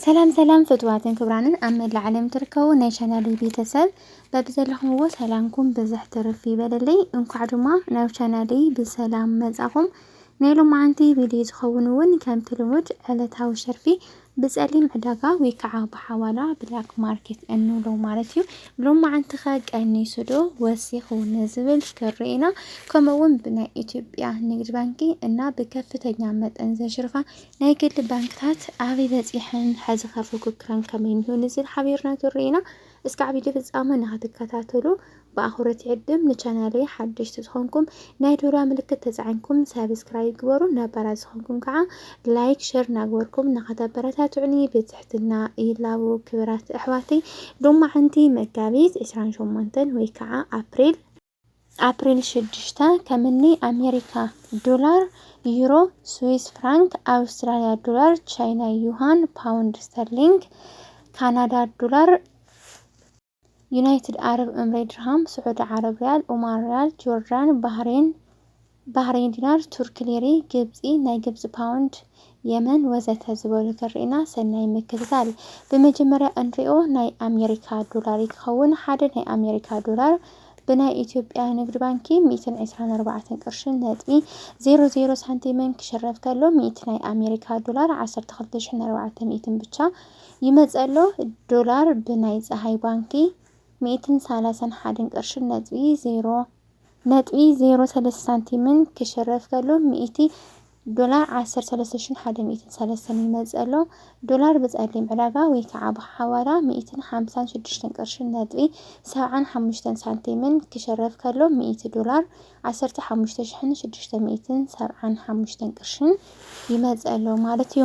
ሰላም ሰላም ፍትዋትን ክብራንን ኣብ መላእ ዓለም ትርከቡ ናይ ቻናለይ ቤተሰብ በብዘለኹምዎ ሰላምኩም ብዝሕ ትርፍ ይበለለይ። እንኳዕ ድማ ናብ ቻናለይ ብሰላም መጻኹም። ናይ ሎማዓንቲ ቪድዮ ዝኸውን እውን ከምቲ ልሙድ ዕለታዊ ሸርፊ ብጸሊም ዕዳጋ ወይ ከዓ ብሓዋላ ብላክ ማርኬት እንብሎ ማለት እዩ። ሎማዓንቲ ከ ቀኒሱ ዶ ወሲኹ ንዝብል ክርኢና ከምኡውን ብናይ ኢትዮጵያ ንግድ ባንኪ እና ብከፍተኛ መጠን ዘሽርፋ ናይ ግሊ ባንክታት ኣበይ በጺሐን፣ ሐዚኸ ፉክክረን ከመይንዩ ንዝብል ሓቢርና ክንርኢ ኢና። እስከ ዓቢይቲ ፍጻመ ንኽትከታተሉ ብኣኹርት ይዕድም። ንቻናለይ ሓደሽቲ ዝኾንኩም ናይ ደውላ ምልክት ተጻዒንኩም ሳብስክራይብ ግበሩ፣ ነባራት ዝኾንኩም ከኣ ላይክ ሸር እናግበርኩም ንኽተበረታትዑኒ ብትሕትና ይላቡ። ክብራት ኣሕዋተይ ሎማዕንቲ መጋቢት ዕስራን ሸሞንተን ወይ ከኣ ኣፕሪል ኣፕሪል ሽዱሽተ፣ ከም እኒ ኣሜሪካ ዶላር፣ ዩሮ፣ ስዊስ ፍራንክ፣ ኣውስትራሊያ ዶላር፣ ቻይና ዩሃን፣ ፓውንድ ስተርሊንግ፣ ካናዳ ዶላር፣ ዩናይትድ ዓረብ እምሬ ድርሃም፣ ስዑዲ ዓረብ ሪያል፣ ኦማን ሪያል፣ ጆርዳን፣ ባህሬን፣ ባሕሬን ዲናር፣ ቱርኪ ሊሪ፣ ግብጺ ናይ ግብጺ ፓውንድ፣ የመን ወዘተ ዝበሉ ክርኢና ሰናይ ምክትታል። ብመጀመርያ እንሪኦ ናይ ኣሜሪካ ዶላር እዩ ክኸውን። ሓደ ናይ ኣሜሪካ ዶላር ብናይ ኢትዮጵያ ንግድ ባንኪ ሚእትን ዕስራን ኣርባዕተን ቅርሽን ነጥቢ ዜሮ ዜሮ ሳንቲምን ክሽረፍ ከሎ ሚእቲ ናይ ኣሜሪካ ዶላር ዓሰርተ ክልተ ሽሕን ኣርባዕተ ሚእትን ብቻ ይመጽእ ኣሎ። ዶላር ብናይ ጸሃይ ባንኪ ሚእትን ሰላሳን ሓደን ቅርሽን ነጥቢ ዜሮ ነጥቢ ዜሮ ሰለስተ ሳንቲምን ክሽረፍ ከሎ ሚእቲ ዶላር ዓሰርተ ሰለስተ ሽሕን ሓደ ሚእትን ሰለስተን ይመጽእ ኣሎ። ዶላር ብጸሊም ዕዳጋ ወይ ከዓ ብሓዋላ ሚእትን ሓምሳን ሽዱሽተን ቅርሽን ነጥቢ ሰብዓን ሓሙሽተን ሳንቲምን ክሽረፍ ከሎ ሚእቲ ዶላር ዓሰርተ ሓሙሽተ ሽሕን ሽዱሽተ ሚእትን ሰብዓን ሓሙሽተን ቅርሽን ይመጽእ ኣሎ ማለት እዩ።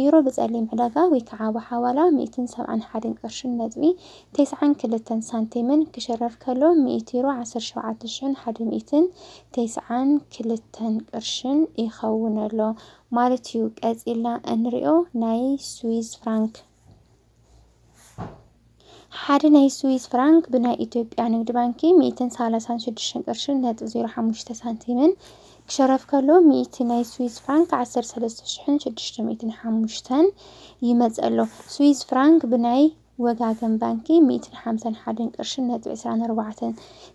ዩሮ ብጸሊም ዕዳጋ ወይ ከኣ ብሓዋላ ሚእትን ሰብዓን ሓደን ቅርሽን ነጥቢ ተስዓን ክልተን ሳንቲምን ክሽረፍ ከሎ ሚእቲ ዩሮ ዓሰርተ ሸውዓተ ሽሕን ሓደ ሚእትን ተስዓን ክልተን ቅርሽን ይኸውን ኣሎ ማለት እዩ። ቀጺልና እንሪኦ ናይ ስዊዝ ፍራንክ። ሓደ ናይ ስዊስ ፍራንክ ብናይ ኢትዮጵያ ንግድ ባንኪ ሚእትን ሳላሳን ሽዱሽተን ቅርሽን ነጥቢ ዜሮ ሓሙሽተ ሳንቲምን ክሸረፍ ከሎ ሚእቲ ናይ ስዊስ ፍራንክ ዓሰርተ ሰለስተ ሽሕን ሽዱሽተ ሚእትን ሓሙሽተን ይመጽእ ኣሎ። ስዊስ ፍራንክ ብናይ ወጋገን ባንኪ ሚእትን ሓምሳን ሓደን ቅርሽን ነጥቢ ዕስራን ኣርባዕተን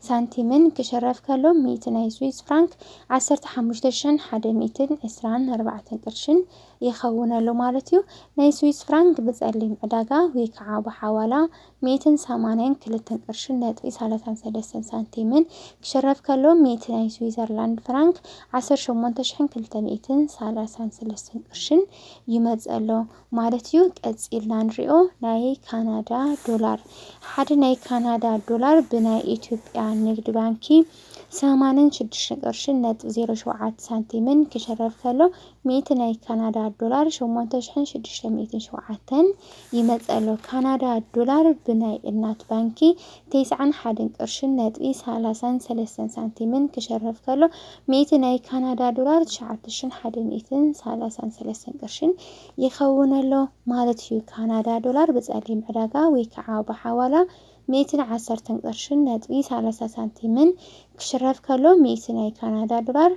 ሳንቲምን ክሸረፍ ከሎ ሚእቲ ናይ ስዊስ ፍራንክ ዓሰርተ ሓሙሽተ ሽሕን ሓደ ሚእትን ዕስራን ኣርባዕተን ቅርሽን ይኸውን ኣሎ ማለት እዩ። ናይ ስዊስ ፍራንክ ብጸሊም ዕዳጋ ወይ ከኣ ብሓዋላ ሚእትን ሰማንያን ክልተን ቅርሽን ነጥቢ ሳላሳን ሰለስተን ሳንቲምን ክሽረፍ ከሎ ሚእቲ ናይ ስዊዘርላንድ ፍራንክ ዓሰርተ ሸሞንተ ሽሕን ክልተ ሚእትን ሳላሳን ሰለስተን ቅርሽን ይመጽእ ኣሎ ማለት እዩ። ቀጺልና ንሪኦ ናይ ካናዳ ዶላር ሓደ ናይ ካናዳ ዶላር ብናይ ኢትዮጵያ ንግድ ባንኪ ሰማንን ሽዱሽተ ቅርሽን ነጥቢ ዜሮ ሸውዓተ ሳንቲምን ክሽረፍ ከሎ ሚእቲ ናይ ካናዳ ዶላር ሸሞንተ ሽሕን ሽዱሽተ ሚእትን ሸውዓተን ይመጽእ ኣሎ። ካናዳ ዶላር ብናይ እናት ባንኪ ተስዓን ሓደን ቅርሽን ነጥቢ ሰላሳን ሰለስተን ሳንቲምን ክሸርፍ ከሎ፣ ሚእቲ ናይ ካናዳ ዶላር ትሽዓተ ሽሕን ሓደ ሚእትን ሰላሳን ሰለስተን ቅርሽን ይኸውን ኣሎ ማለት እዩ። ካናዳ ዶላር ብጸሊም ዕዳጋ ወይ ከኣ ብሓዋላ ሚእትን ዓሰርተን ቅርሽን ነጥቢ ሰላሳ ሳንቲምን ክሽረፍ ከሎ፣ ሚእቲ ናይ ካናዳ ዶላር፣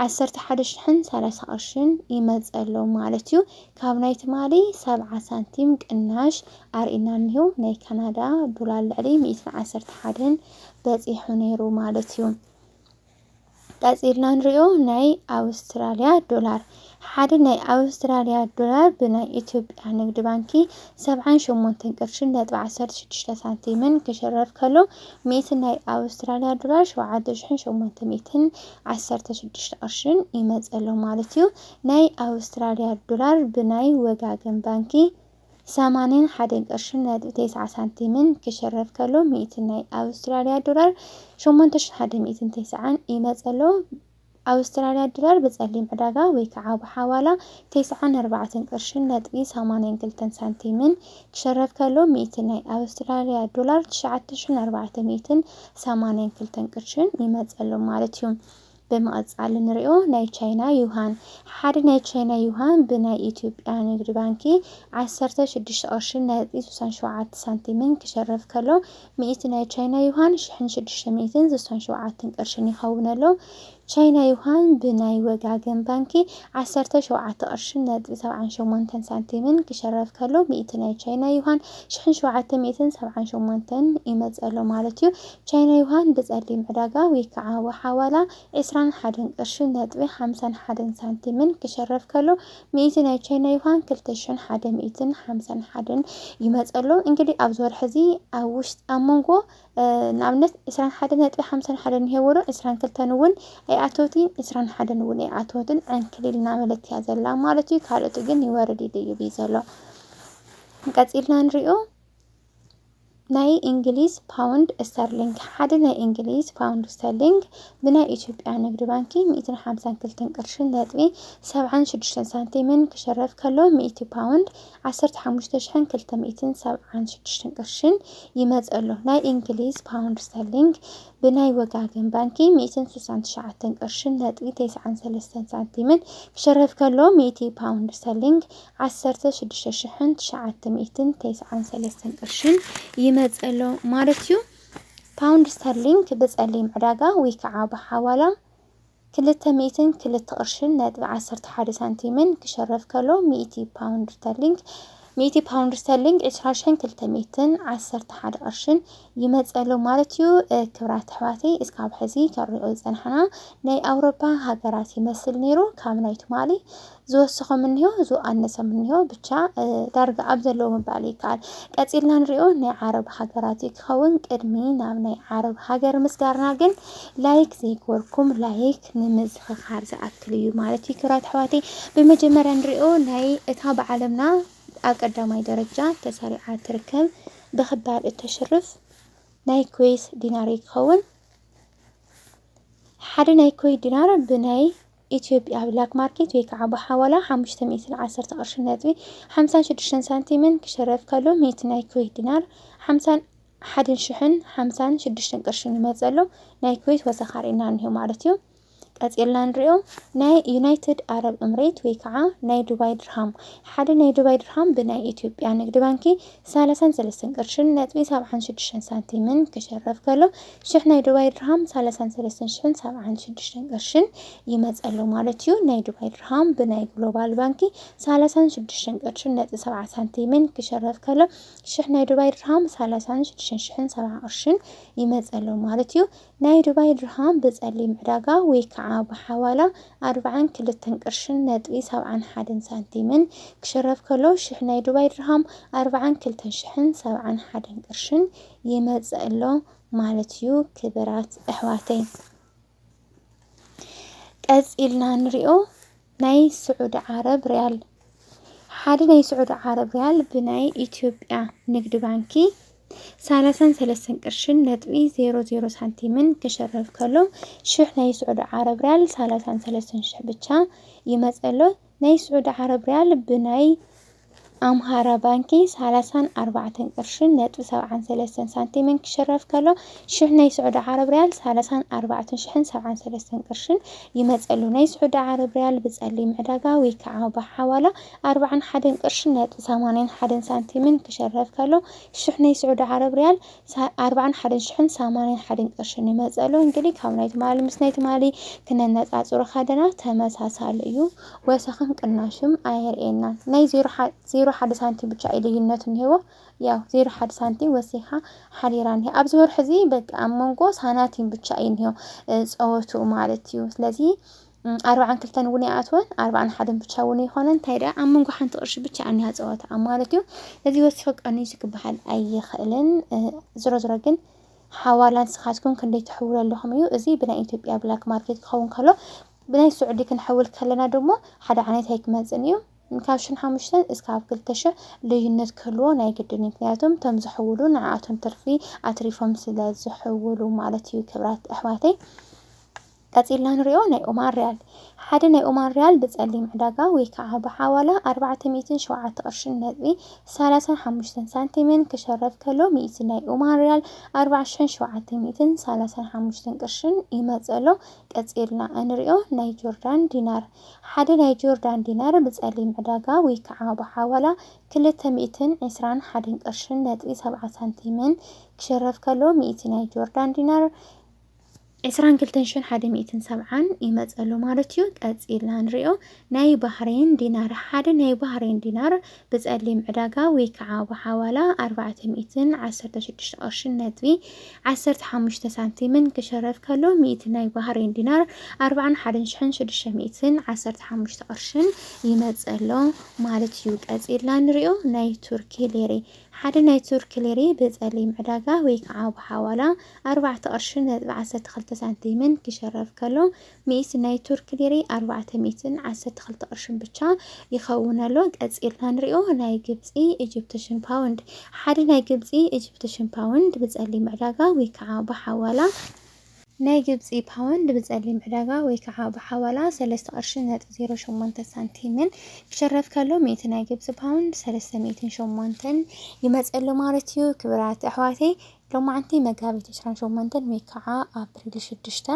ዓሰርተ ሓደ ሽሕን ሰላሳ ቅርሽን ይመጽእ ኣሎ ማለት እዩ ካብ ናይ ትማሊ ሰብዓ ሳንቲም ቅናሽ ኣርእና እኒሁ ናይ ካናዳ ዶላር ልዕሊ ሚእትን ዓሰርተ ሓደን በጺሑ ነይሩ ማለት እዩ ቀጺልና ንሪኦ ናይ ኣውስትራልያ ዶላር ሓደ ናይ ኣውስትራልያ ዶላር ብናይ ኢትዮጵያ ንግድ ባንኪ ሰብዓን ሸሞንተን ቅርሽን ነጥቢ ዓሰርተ ሽዱሽተ ሳንቲምን ክሽረፍ ከሎ፣ ሚእቲ ናይ ኣውስትራልያ ዶላር ሸውዓተ ሽሕን ሸሞንተ ሚእትን ዓሰርተ ሽዱሽተ ቅርሽን ይመጽእ ኣሎ ማለት እዩ። ናይ ኣውስትራልያ ዶላር ብናይ ወጋገን ባንኪ ሰማንያን ሓደን ቅርሽን ነጥቢ ተስዓ ሳንቲምን ክሽረፍ ከሎ፣ ሚእቲ ናይ ኣውስትራልያ ዶላር ሸሞንተ ሽሕን ሓደ ሚእትን ተስዓን ይመጽእ ኣሎ። ኣውስትራልያ ድራር ብጸሊም ዕዳጋ ወይ ከኣ ብሓዋላ ተስዓን ኣርባዕተን ቅርሽን ነጥቢ ሰማንያን ክልተን ሳንቲምን ክሽረፍ ከሎ ሚእቲ ናይ ኣውስትራልያ ዶላር ትሽዓተ ሽሕን ኣርባዕተ ሚእትን ሰማንያን ክልተን ቅርሽን ይመጸሎም ማለት እዩ። ብምቕጻል ንሪኦ ናይ ቻይና ዩሃን። ሓደ ናይ ቻይና ዩሃን ብናይ ኢትዮጵያ ንግድ ባንኪ ዓሰርተ ሽዱሽተ ቅርሽን ነጥቢ ስሳን ሸውዓተ ሳንቲምን ክሽረፍ ከሎ ሚእቲ ናይ ቻይና ዩሃን ሽሕን ሽዱሽተ ሚእትን ስሳን ሸውዓተን ቅርሽን ይኸውን ኣሎ። ቻይና ዩሃን ብናይ ወጋገን ባንኪ ዓሰርተ ሸውዓተ ቅርሽን ነጥቢ ሰብዓን ሸሞንተን ሳንቲምን ክሸረፍ ከሎ ሚእቲ ናይ ቻይና ዩሃን ሽሕን ሸውዓተ ሚእትን ሰብዓን ሸሞንተን ይመጽእ ኣሎ ማለት እዩ። ቻይና ዩሃን ብጸሊም ዕዳጋ ወይካዓ ወሓዋላ ዕስራን ሓደን ቅርሽን ነጥቢ ሓምሳን ሓደን ሳንቲምን ክሸረፍ ከሎ ሚእቲ ናይ ቻይና ዩሃን ክልተ ሽሕን ሓደ ሚእትን ሓምሳን ሓደን ይመፅ ኣሎ እንግዲህ ኣብዚ ወርሒ እዚ ኣብ ውሽጢ ኣብ መንጎ ንኣብነት ዕስራን ሓደ ነጥቢ ሓምሳን ሓደን ይሄወሮ ዕስራን ክልተን እውን ኣይኣተውቲን ዕስራን ሓደን እውን ኣይኣተወትን ዕንክሊል እናበለት እያ ዘላ ማለት እዩ ካልኦት ግን ይወርድ ይድይብ እዩ ዘሎ ቀፂልና ንሪኦ ናይ እንግሊዝ ፓውንድ እስተርሊንግ ሓደ ናይ እንግሊዝ ፓውንድ እስተርሊንግ ብናይ ኢትዮጵያ ንግድ ባንኪ ሚእትን ሓምሳን ክልተን ቅርሽን ነጥቢ ሰብዓን ሽዱሽተን ሳንቲምን ክሽረፍ ከሎ ሚእቲ ፓውንድ ዓሰርተ ሓሙሽተ ሽሕን ክልተ ሚእትን ሰብዓን ሽዱሽተን ቅርሽን ይመጽእ ኣሎ። ናይ እንግሊዝ ፓውንድ እስተርሊንግ ብናይ ወጋገን ባንኪ ሚእትን ስሳን ትሽዓተን ቅርሽን ነጥቢ ተስዓን ሰለስተን ሳንቲምን ክሽረፍ ከሎ ሚእቲ ፓውንድ እስተርሊንግ ዓሰርተ ሽዱሽተ ሽሕን ትሽዓተ ሚእትን ተስዓን ሰለስተን ቅርሽን ይመጽእሎ ማለት'ዩ። ፓውንድ ስተርሊንግ ብጸሊም ዕዳጋ ወይ ከኣ ብሓዋላ ክልተ ሚእትን ክልተ ቅርሽን ነጥቢ ዓሰርተ ሓደ ሳንቲምን ክሸረፍ ከሎ ሚእቲ ፓውንድ ስተርሊንግ ሚእቲ ፓውንድ ስተርሊንግ ዕስራ ሽሕን ክልተ ሚእትን ዓሰርተ ሓደ ቅርሽን ይመጸሎ ማለት'ዩ። ክብራት ኣሕዋተይ እስካብ ሕዚ ከንሪኦ ዝጸናሕና ናይ ኣውሮፓ ሃገራት ይመስል ነይሩ ካብ ናይ ትማሊ ዝወሰኾም እኒሆ ዝኣነሰም እኒሆ ብቻ ዳርጋ ኣብ ዘለዎ ምባል ይከኣል። ቀጺልና ንሪኦ ናይ ዓረብ ሃገራት እዩ ክኸውን። ቅድሚ ናብ ናይ ዓረብ ሃገር ምስጋርና ግን ላይክ ዘይገበርኩም ላይክ ንምዝኽኻር ዝኣክል እዩ ማለት እዩ። ክብራት ኣሕዋተይ ብመጀመርያ ንሪኦ ናይ እታ ብዓለምና ኣብ ቀዳማይ ደረጃ ተሰሪዓ ትርከብ ብክባር እተሽርፍ ናይ ኩዌስ ዲናር እዩ ክኸውን። ሓደ ናይ ኩዌት ዲናር ብናይ ኢትዮጵያ ብላክ ማርኬት ወይ ከዓ ብሓዋላ ሓሙሽተ ሚእትን ዓሰርተ ቅርሺ ነጥቢ ሓምሳን ሽዱሽተን ሳንቲምን ክሽረፍ ከሎ ሚእቲ ናይ ኩዌት ዲናር ሓምሳን ሓደን ሽሕን ሓምሳን ሽዱሽተን ቅርሽን ይመፀሉ ናይ ኩዌት ወሰኻ ርኢና እኒሆ ማለት እዩ ቀፂልና ንሪኦ ናይ ዩናይትድ ኣረብ እምሬት ወይ ከዓ ናይ ዱባይ ድርሃም ሓደ ናይ ዱባይ ድርሃም ብናይ ኢትዮጵያ ንግድ ባንኪ ሰላሳን ሰለስተን ቅርሽን ነጥቢ ሰብዓን ሽዱሽተን ሳንቲምን ክሽረፍ ከሎ ሽሕ ናይ ዱባይ ድርሃም ሰላሳን ሰለስተን ሽሕን ሰብዓን ሽዱሽተን ቅርሽን ይመጽእ ኣሎ ማለት እዩ። ናይ ዱባይ ድርሃም ብናይ ግሎባል ባንኪ ሰላሳን ሽዱሽተን ቅርሽን ነጥቢ ሰብዓ ሳንቲምን ክሸረፍ ከሎ ሽሕ ናይ ዱባይ ድርሃም ሰላሳን ሽዱሽተን ሽሕን ሰብዓ ቅርሽን ይመጽእ ኣሎ ማለት እዩ። ናይ ዱባይ ድርሃም ብጸሊም ዕዳጋ ወይ ከዓ ብሓዋላ ኣርብዓን ክልተን ቅርሽን ነጥቢ ሰብዓን ሓደን ሳንቲምን ክሸረፍ ከሎ ሽሕ ናይ ዱባይ ድርሃም ኣርብዓን ክልተን ሽሕን ሰብዓን ሓደን ቅርሽን ይመጽእ ኣሎ ማለት እዩ ክብራት ኣሕዋተይ ቀጺልና ንሪኦ ናይ ስዑዲ ዓረብ ሪያል ሓደ ናይ ስዑዲ ዓረብ ሪያል ብናይ ኢትዮጵያ ንግድ ባንኪ ሳላሳን ሰለስተን ቅርሽን ነጥቢ ዜሮ ዜሮ ሳንቲምን ክሸረፍ ከሎ ሽሕ ናይ ስዑዲ ዓረብ ሪያል ሳላሳን ሰለስተን ሽሕ ብቻ ይመፀሎ ናይ ስዑዲ ዓረብ ሪያል ብናይ ኣምሃራ ባንኪ ሳላሳን ኣርባዕተን ቅርሽን ነጥቢ ሰብዓን ሰለስተን ሳንቲምን ክሽረፍ ከሎ ሽሕ ናይ ስዑዲ ዓረብ ርያል ሳላሳን ኣርባዕተን ሽሕን ሰብዓን ሰለስተን ቅርሽን ይመጸሉ። ናይ ስዑዲ ዓረብ ርያል ብጸሊም ዕዳጋ ወይ ክኣ ብሓዋላ ኣርባዓን ሓደን ቅርሽን ነጥቢ ሰማንያን ሓደን ሳንቲምን ክሽረፍ ከሎ ሽሕ ናይ ስዑዲ ዓረብ ርያል ሳይ ኣርባዓን ሓደን ሽሕን ሳማንያን ሓደን ቅርሽን ይመጸሉ እንግዲ ካብ ናይ ትማሊ ምስ ናይ ትማሊ ክነነጻጽሮ ከደና ተመሳሳሊ እዩ ወሰኽን ቅናሽም ኣየርእየናን ናይ ዜሮ ዜሮ ሓደ ሳንቲም ብቻ እዩ ልዩነቱ እንሄዎ ያው ዜሮ ሓደ ሳንቲም ወሲኻ ሓዲራ እንሄ ኣብዚ ወርሒ እዚ በቃ ኣብ መንጎ ሳናቲም ብቻ እዩ እንሄው ጸወቱ ማለት እዩ ስለዚ ኣርባዓን ክልተን እውን ይኣትወን ኣርባዓን ሓደን ብቻ እውን ይኾነን እንታይ ደኣ ኣብ መንጎ ሓንቲ ቅርሺ ብቻ ኣኒያ ፀወታ ማለት እዩ እዚ ወሲኸ ቀኒሱ ክበሃል ኣይኽእልን ዝሮ ዝሮ ግን ሓዋላ ንስኻትኩም ክንደይ ትሕውሉ ኣለኹም እዩ እዚ ብናይ ኢትዮጵያ ብላክ ማርኬት ክኸውን ከሎ ብናይ ስዑዲ ክንሕውል ከለና ድማ ሓደ ዓይነት ኣይክመፅን እዩ ካብ ሽን ሓሙሽተን እስካብ ክልተ ሽሕ ልዩነት ክህልዎ ናይ ግድን እዩ ምክንያቱም እቶም ዝሕውሉ ንዓኣቶም ትርፊ ኣትሪፎም ስለ ዝሕውሉ ማለት እዩ ክብራት ኣሕዋተይ ቀጺልና ንሪኦ ናይ ኦማን ሪያል። ሓደ ናይ ኦማን ሪያል ብጸሊም ዕዳጋ ወይ ከኣ ብሓዋላ ኣርባዕተ ሚእትን ሸውዓተ ቅርሽን ነጥቢ ሰላሳን ሓሙሽተን ሳንቲምን ክሸረፍ ከሎ ሚእቲ ናይ ኦማን ሪያል ኣርባዕተ ሽሕን ሸውዓተ ሚእትን ሰላሳን ሓሙሽተን ቅርሽን ይመጽእ ኣሎ። ቀጺልና እንሪኦ ናይ ጆርዳን ዲናር። ሓደ ናይ ጆርዳን ዲናር ብጸሊም ዕዳጋ ወይ ከኣ ብሓዋላ ክልተ ሚእትን ዕስራን ሓደን ቅርሽን ነጥቢ ሰብዓ ሳንቲምን ክሸረፍ ከሎ ሚእቲ ናይ ጆርዳን ዲናር ዕስራን ክልተን ሽሕን ሓደ ሚእትን ሰብዓን ይመጽእ ኣሎ ማለት እዩ። ቀጺልና ንሪኦ ናይ ባህሬን ዲናር ሓደ ናይ ባህሬን ዲናር ብጸሊም ዕዳጋ ወይ ከዓ ብሓዋላ ኣርባዕተ ሚእትን ዓሰርተ ሽዱሽተ ቅርሽን ነጥቢ ዓሰርተ ሓሙሽተ ሳንቲምን ክሸረፍ ከሎ ሚእቲ ናይ ባህሬን ዲናር ኣርባዓን ሓደን ሽሕን ሽዱሽተ ሚእትን ዓሰርተ ሓሙሽተ ቅርሽን ይመጽእ ኣሎ ማለት እዩ። ቀጺልና ንሪኦ ናይ ቱርኪ ሌሬ ሓደ ናይ ቱርኪ ሊሪ ብጸሊም ዕዳጋ ወይ ከኣ ብሓዋላ ኣርባዕተ ቅርሽን ነጥቢ ዓሰርተ ክልተ ሳንቲምን ኪሸረፍ ከሎ፣ ሚእቲ ናይ ቱርኪ ሊሪ ኣርባዕተ ሚእትን ዓሰርተ ክልተ ቅርሽን ብቻ ይኸውን ኣሎ። ቀጺልና ንሪኦ ናይ ግብጺ ኢጂፕትሽን ፓውንድ። ሓደ ናይ ግብጺ ኢጂፕትሽን ፓውንድ ብጸሊም ዕዳጋ ወይ ከኣ ብሓዋላ፣ ናይ ግብጺ ፓውንድ ብጸሊም ዕዳጋ ወይ ከኣ ብሓዋላ ሰለስተ ቅርሺ ነጥቢ ዜሮ ሸሞንተ ሳንቲምን ክሽረፍ ከሎ ሚእቲ ናይ ግብጺ ፓውንድ ሰለስተ ሚእትን ሸሞንተን ይመጽእ ኣሎ ማለት እዩ። ክብራት ኣሕዋተይ ሎማዕንቲ መጋቢት ዕስራን ሸሞንተን ወይ ከኣ ኣፕሪል ሽዱሽተ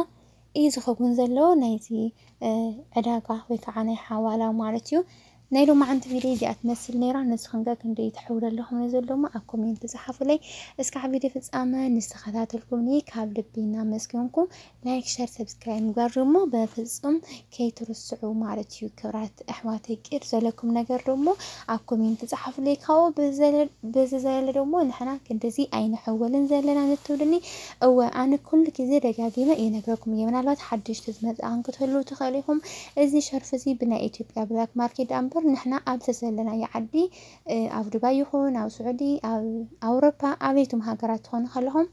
እዩ ዝኸውን ዘሎ ናይዚ ዕዳጋ ወይ ከኣ ናይ ሓዋላ ማለት እዩ። ናይ ሎማዓንቲ ቪድዮ እዚኣ ትመስል ነይራ ንስኽን ከ ክንደይ ተሕውለልኹም ን ዘሎ እሞ ኣብ ኮሜንቲ ጸሓፉለይ እስካዕ ቪድዮ ፍጻመ ን ዝተኸታተልኩምኒ ካብ ልቢ እናመስገንኩ ላይክ ሸር ሰብስክራይብ ምግባር ደሞ በፍጹም ከይትርስዑ ማለት እዩ ክብራት ኣሕዋተይ ቂር ዘለኩም ነገር ደሞ ኣብ ኮሜንቲ ጸሓፉለይ ካብኡ ብዝዘለለ ደሞ ንሕና ክንድዚ ኣይንሕወልን ዘለና ንትብሉኒ እወ ኣነ ኩሉ ግዜ ደጋጊመ ይነግረኩም እየ ምናልባት ሓደሽቲ ዝመጻእኹም ክትህልዉ ትኽእሉ ኢኹም እዚ ሸርፊ እዚ ብናይ ኢትዮጵያ ብላክ ማርኬት ድኣምበር ንሕና ኣብ ዘዘለናዮ ዓዲ ኣብ ዱባይ ይኹን ኣብ ስዑዲ ኣብ ኣውሮፓ ኣበይቱም ሃገራት ትኾኑ ከለኹም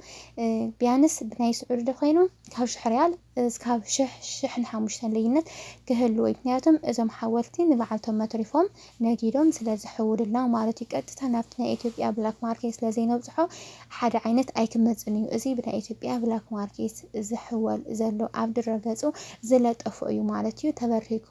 ቢያንስ ብናይ ስዑዲ ዶ ኮይኑ ካብ ሽሕ ሪያል እስካብ ሽሕ ሽሕን ሓሙሽተን ልዩነት ክህልዎ እዩ ምክንያቱም እዞም ሓወልቲ ንባዓልቶም መትሪፎም ነጊዶም ስለ ዝሕውሉልና ማለት እዩ ቀጥታ ናብቲ ናይ ኢትዮጵያ ብላክ ማርኬት ስለ ዘይነብጽሖ ሓደ ዓይነት ኣይክመጽን እዩ እዚ ብናይ ኢትዮጵያ ብላክ ማርኬት ዝሕወል ዘሎ ኣብ ድረ ገጹ ዝለጠፎ እዩ ማለት እዩ ተበርኪኩ